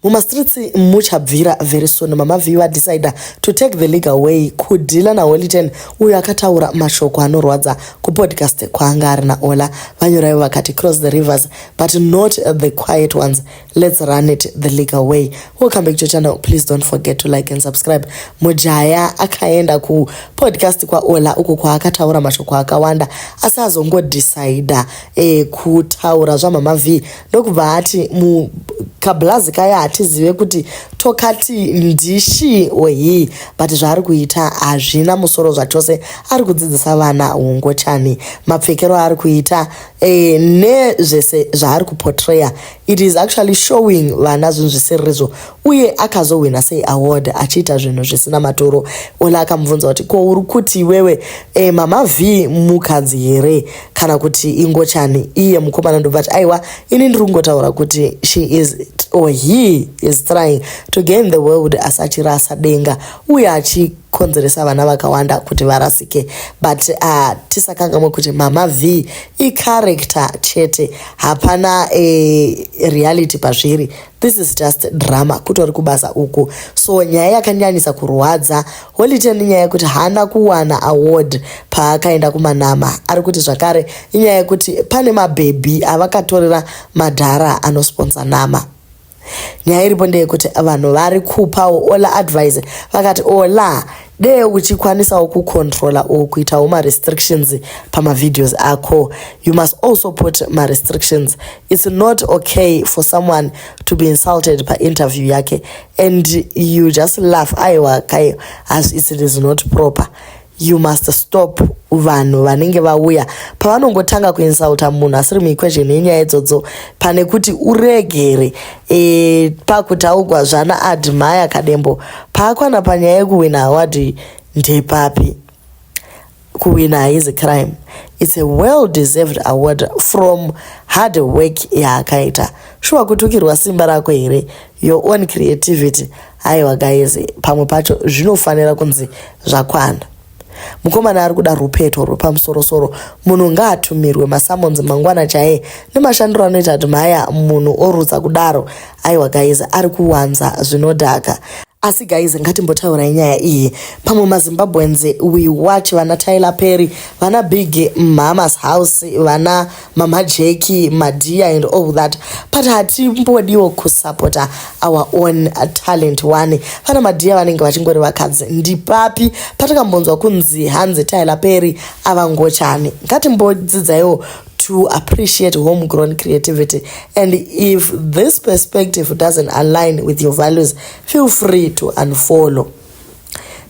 mumastreets muchabvira very soon mama view vadecider to take the legal way kudhila naholiten uyo akataura mashoko anorwadza kupodcast kwaanga ari naola vanyoraivo vakati cross the rivers but not the quiet ones let's run it the legal way welcome back to channel please don't forget to like and subscribe mujaya akaenda kupodcast kwaola uko kwaakataura mashoko akawanda asi azongodecider eh, kutaura zvamama view ndokubva ati mu kablazi kaya hatizive kuti tokati ndishi ohi but zvaari kuita hazvina musoro zvachose ari kudzidzisa vana hungochani mapfekero aari kuita e, nezvese zvaari kupotraya it is actually showing vana zvinhu zvisiririzvo uye akazohwina sei award achiita zvinhu zvisina maturo ola akamubvunza kuti ko uri kuti iwewe e, mama v mukadzi here kana kuti ingochani iye mukomana ndobva ti aiwa ini ndiri kungotaura kuti she is or he is trying to gain the world asi achirasa denga uye achi kukonzeresa vana vakawanda kuti varasike but uh, tisakangamwe kuti mama v icharacter chete hapana e, reality pazviri This is just drama kutori kubasa uku so nyaya yakanyanisa kurwadza holiten inyaya yekuti haana kuwana award paakaenda kumanama ari kuti zvakare inyaya yekuti pane mabhebhi avakatorera madhara anosponsa nama nyaya iripo ndeyekuti vanhu vari kupawo ola advise vakati ola dee uchikwanisawo kucontrola or kuitawo marestrictions pamavideos ako you must also put marestrictions its not okay for someone to be insulted painterview yake and you just laugh aiwa kai as it is not proper you must stop vanhu vanenge vauya pavanongotanga kuinsulta munhu asiri muequation yenyaya idzodzo pane kuti uregere e, pakutaugwa zvana admire kadembo paakwana panyaya yekuwina awadi ndepapi kuwina haizi crime its a well deserved award from hard work yaakaita shuwa kutukirwa simba rako here your own creativity haiwa guys pamwe pacho zvinofanira kunzi zvakwana Mukomana ari kuda rwupeto rwepamusorosoro. Munhu ngaatumirwe masummons mangwana chaiye nemashandiro anoita kuti mhaya munhu orutsa kudaro. Aiwa guys ari kuwanza zvinodhaka. Asi guys ngatimbotaurai nyaya iyi. Pamwe maZimbabweans we watch vana Tyler Perry, vana Big Mhama's house, vana mama jeki madia and all that but hatimbodiwo kusupporta our own talent one vana madia vanenge vachingori vakadzi ndipapi patakambonzwa kunzi hanzi tyler perry avangochani ngatimbodzidzaiwo to appreciate homegrown creativity. And if this perspective doesn't align with your values, feel free to unfollow.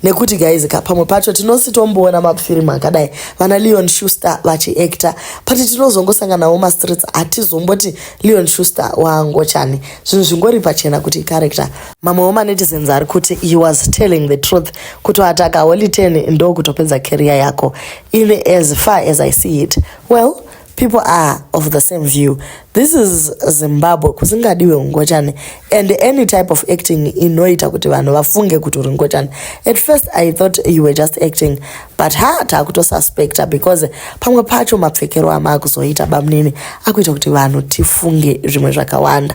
nekuti guys ka pamwe pacho tinositomboona mafirimu akadai vana leon shuster vachiacta but tinozongosanganawo mastreets hatizomboti leon shuster waangochani zvinhu zvingori pachena kuti icharacter mamwewo manetizens ari kuti he was telling the truth kutoataka holy ten ndokutopedza carrier yako ini as far as i see it well people are of the same view this is zimbabwe kusingadiwe ungochani and any type of acting inoita kuti vanhu vafunge kuti uri ngochani at first i thought you were just acting but ha taakutosuspecta because pamwe pacho mapfekero amaakuzoita bamnini akuita kuti vanhu tifunge zvimwe zvakawanda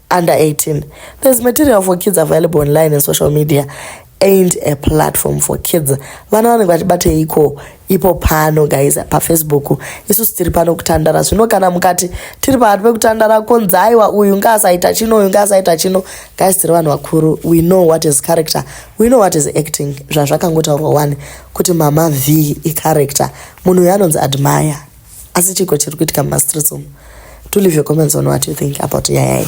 under 18. There's material for kids available online and social media ain't a platform for kids. Vana vanenge vachibate iko ipo pano guys pafacebook isusu tiri pano kutandara zvino kana mukati tiri pahati pekutandara konzi aiwa uyu ngaasaita chino uyu ngaasaita chino guys tiri vanhu vakuru we know what is character we know what is acting zvazvakangotaurwa wani kuti mama v icharacter munhu uyo anonzi admire asi chiko chiri kuitika mumastreets umu to leave your comments on what you think about nyaya iyi